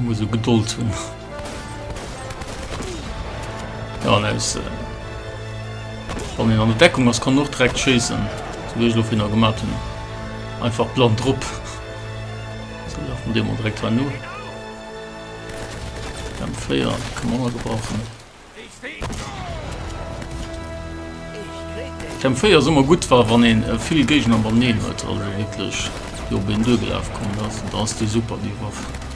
muss so geduld hun ja, ne, ist, äh, an der Deckung was kann noch direkt schießen so hin gemacht hun einfach blond drop so, von dem direkt war nur kann man gebrauchen Therm 4 ass ëmmer gutt war wann een vill Géigner banneen huet, also wierklech déi op een duergelaf kommen ass, da ass déi super déi Waff.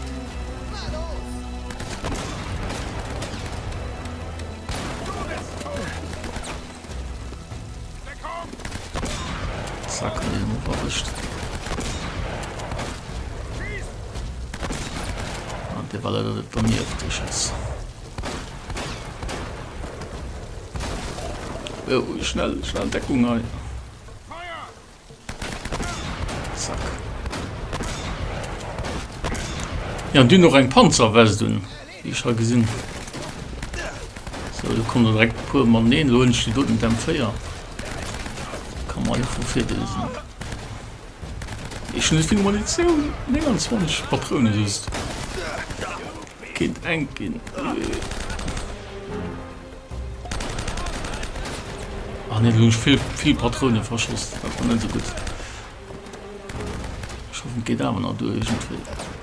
Oh, schnell, schnell Deckung hei. Zack. Ja, du noch eng Panzerwest un. Wie ich ha gesinn. So, du komm er direkt puer man neen, lo hunn ich die doten dem Féier. Kann man einfach fir desen. Ech hun esouvill Munitioun, 29 Patrounen just. Kéint enk gin. Ah nee, do hun ech vill, vill Patrounen verschoss. Dat war net esou gudd. Ech hoffen, et geet awer nach duer iergendwéi.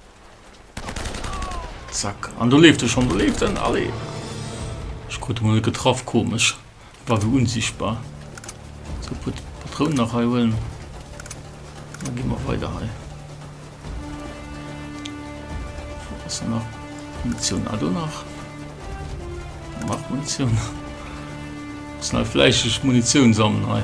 Zack. An do leeft e schonn, do leeft en, allez! Ech krut e mol net getraff, komesch. E war wéi unsichtbar. Sou, e puer Patrounen nach hei huelen. Da gi mer weider hei. Wat ass do nach? Munitioun, ah, do nach. Nach Munitioun. Muss nach fläisseg Munitioun sammeln hei.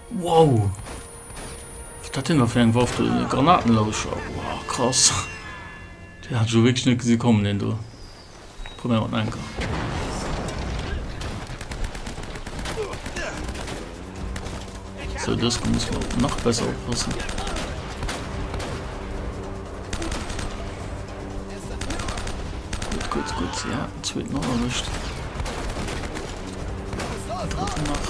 Wow! Wat hat deen da fir eng Waff do? E Granatenlauscher? Wow, krass! Deen hat ech elo wierklech net gesi kommen, deen do. Probéiere mer et nach eng Kéier. Sou, dës Kéier musse mer och nach besser oppassen. Gut, ja, zweet nach erwischt. Dritten nach.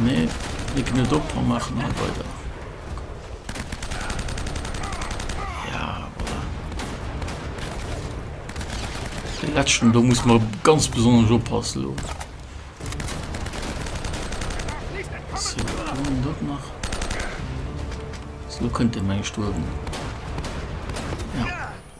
Nee, mir ginn et op a maachen hei weider. Ja, voilà. Den letzten, do muss man ganz besonders oppassen. Lo. So, dort nach. So könnte mein Sturm.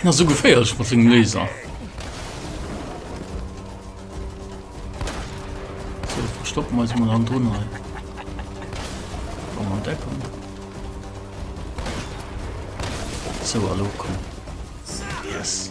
Hien ass esou geféierlech mat sengem Laser. So, verstoppen wir uns mal an drun hei. Wollen wir entdecken. So, hallo, komm. Yes.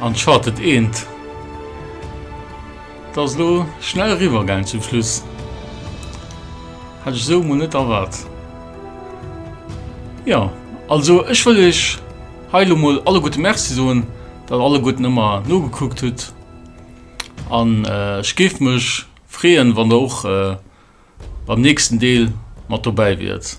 Uncharted eent dat ass lo schnell riwwer gaang zum Schluss. Hat ech sou mol net erwaart. Ja also ech wëll ech hei lo mol alle gute Merci soen, dat alle guten ëmmer nogekuckt hutt an ech géif mech freeën wann der och beim nächsten Deel mat dobäi wiert.